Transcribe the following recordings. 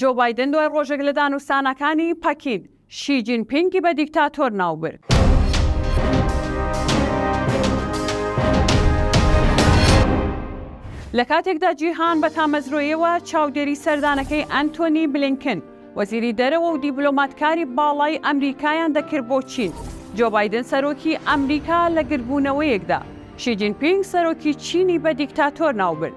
جۆ بایدن دوای ڕۆژێک لە دانوستانەکانی پەکین، شی جین پینگی بە دیکتاتۆر ناوبرد. لە کاتێکدا جیهان بە تامەزرۆیەوە چاودێری سەردانەکەی ئەنتۆنی بلینکن، وەزیری دەرەوە و دیبلۆماتکاری باڵای ئەمریکایان دەکرد بۆ چین، جۆ بایدن سەرۆکی ئەمریکا لە گردبوونەوەیەکدا، شی جین پینگ سەرۆکی چینی بە دیکتاتۆر ناوبرد.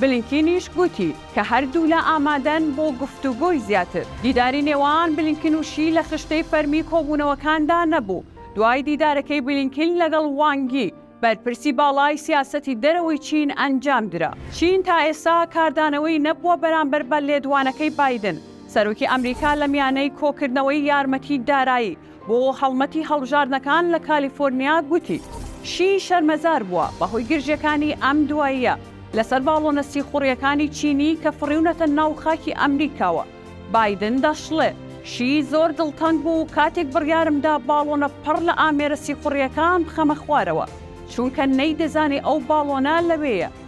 بلینکینیش گوتی کە هەردوولا ئامادەن بۆ گفتوگۆی زیاتر. دیداری نێوان بلینکن و شی لە خشتەی فەرمی کۆبوونەوەکاندا نەبوو، دوای دیدارەکەی بلینکن لەگەڵ وانگ یی، بەرپرسی باڵای سیاسەتی دەرەوەی چین ئەنجامدرا. چین تا ئێستا کاردانەوەی نەبووە بەرامبەر بە لێدوانەکەی بایدن، سەرۆکی ئەمریکا لە میانەی کۆکردنەوەی یارمەتی دارایی، بۆ هەڵمەتی هەڵبژاردنەکان لە کالیفۆرنیا گوتی، شی شەرمەزار بووە بەهۆی گرژییەکانی ئەم دواییە لەسەر باڵۆنە سیخوڕییەکانی چینی کە فڕیونەتە ناو خاکی ئەمریکاوە. بایدن دەشڵێ، شی زۆر دڵتەنگ بوو کاتێک بڕیارمدا باڵۆنە پڕ لە ئامێرە سیخوڕییەکان بخەمە خوارەوە، چونکە نەیدەزانی ئەو باڵۆنە لەوێیە.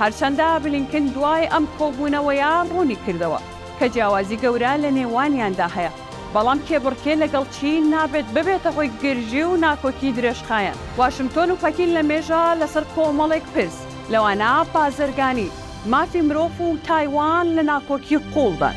هەرچەندە بلینکن دوای ئەم کۆبوونەوەیە ڕوونیکردەوە کە جیاوازی گەورە لە نێوانیاندا هەیە، بەڵام کێبڕکێ لەگەڵ چین نابێت ببێتە هۆی گرژی و ناکۆکی درێژخایەن. واشنتۆن و پەکین لەمێژە لەسەر کۆمەڵێک پرس، لەوانە بازرگانی، مافی مرۆڤ و تایوان لە ناکۆکی قووڵدان.